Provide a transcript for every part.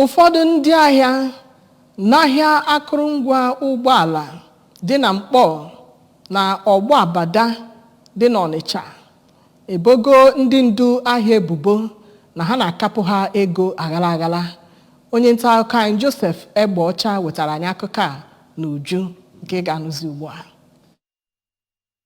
Ụfọdụ ndị ahịa n'ahịa akụrụngwa ụgbọala dị na Nkpọ na Ọgbọ Abada dị n'Ọnịcha ebogo ndị ndu ahịa ebubo na ha na-akapụ ha ego aghara aghara. Onye nta akụkọ anyị Joseph Egbeọcha wetara anyị akụkọ a n'uju nke ị ga-anụzi ugbu a.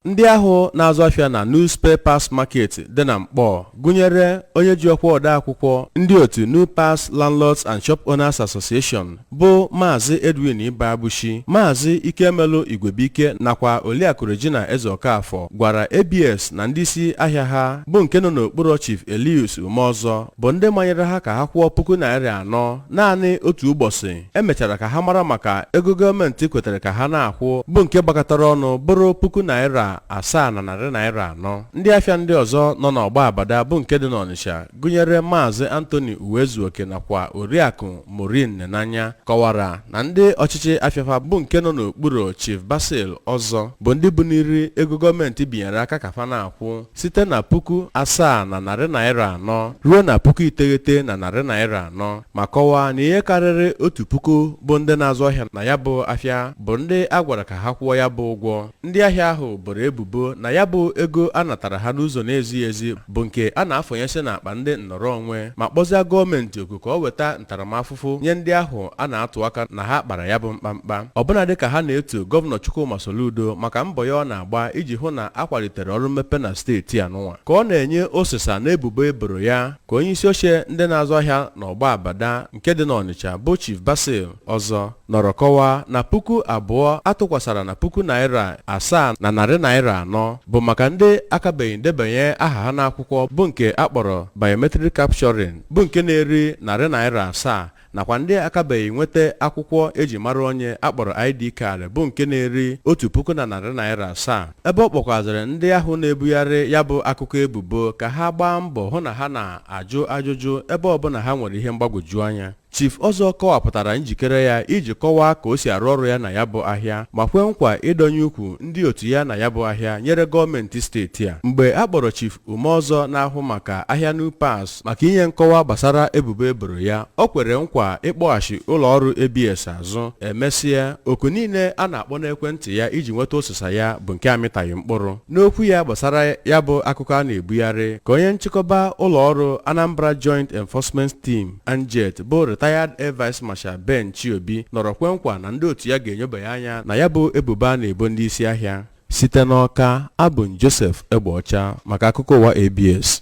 Ndị ahụ na-azụ afịa na New Spare Parts Market dị na Mkpọọ gụnyere onye ji ọkwa odeakwụkwọ ndị otu New Parts Landlords and Shop Owners Association bụ Maazị Edwin Ibeabuchi, Maazị Ikemelu Igwebuike nakwa Oliakụ Regina Ezeokafor gwara ABS na ndị isi ahịa ha bụ nke nọ n'okpuru Chief Elius Umeọzọ bụ ndị manyere ha ka ha kwụọ puku naịra anọ naanị otu ụbọchị e mechara ka ha mara maka ego gọọmenti kwetere ka ha na-akwụ bụ nke gbakọtara ọnụ bụrụ puku naira asaa na narị naira anọ ndị afịa ndị ọzọ nọ n'Ọgbọ Abada bụ nke dị n'ọnịsha gụnyere maazị Anthony uwezuoke nakwa oriakụ Maureen nenanya kọwara na ndị ọchịchị afịa fa bụ nke nọ n'okpuru chief basil ọzọ bụ ndị buniri ego gọọmenti binyere aka ka fa na-akwụ site na puku asaa na narị naira anọ ruo na puku iteghete na narị naira anọ ma kọwaa na ihe karịrị otu puku bụ ndị na-azụ ahịa na ya bụ afịa bụ ndị a gwara ka ha kwụọ ya bụ ụgwọ ndị ahịa ahụ boro ebubo na ya bụ ego a natara ha n'ụzọ na-ezighị ezi bụ nke a na-afọnyesi n'akpa ndị nnọrọ onwe ma kpọzie gọọmenti oku ka o weta ntaramahụhụ nye ndị ahụ a na-atụ aka na ha kpara ya bụ mkpamkpa ọbụna dị ka ha na-eto gọvanọ Chukwuma Soludo maka mbọ ya ọ na-agba iji hụ na a kwalitere ọrụ mmepe na steeti a nụnwa ka ọ na-enye ọsịsa na ebubo e boro ya ka onye isi oche ndị na-azụ ahịa n'Ọgbọ Abada nke dị n'Ọnịcha bụ Chief Basil Ọzọ nọrọ kọwaa na puku abụọ a tụkwasara na puku naira asaa na narị naira anọ bụ maka ndị akabeghị ndebanye aha ha n'akwụkwọ bụ nke a kpọrọ biometric capturing bụ nke na-eri narị naira asaa nakwa ndị akabeghị nweta akwụkwọ e ji mara onye a kpọrọ ID card bụ nke na-eri otu puku na narị naira asaa ebe ọ kpọkwazịrị ndị ahụ na-ebugharị ya bụ akụkọ ebubo ka ha gbaa mbọ hụ na ha na-ajụ ajụjụ ebe ọbụla ha nwere ihe mgbagwoju anya Chief Ọzọ kọwapụtara njikere ya iji kọwaa ka o si arụ ọrụ ya na ya bụ ahịa ma kwee nkwa ịdọnye ukwu ndị otu ya na ya bụ ahịa nyere gọọmenti steeti a mgbe a kpọrọ Chief Umeọzọ na-ahụ maka ahịa New Parts maka inye nkọwa gbasara ebubo e boro ya o kwere nkwa ịkpọghachi ụlọọrụ ABS azụ e mesịa oku niile a na-akpọ n'ekwentị ya iji nweta ọsịsa ya bụ nke amịtaghị mkpụrụ n'okwu ya gbasara ya bụ akụkọ a na-ebugharị ka onye nchịkọba ụlọọrụ Anambra Joint Enforcement Team ANJET bụ retired Air Vice Marshal Ben Chiobi nọrọ kwe nkwa na ndị otu ya ga-enyobanye anya na ya bụ ebubo a na-ebo ndị isi ahịa site n'Ọka abụ m Joseph Egbeọcha maka akụkọ ụwa ABS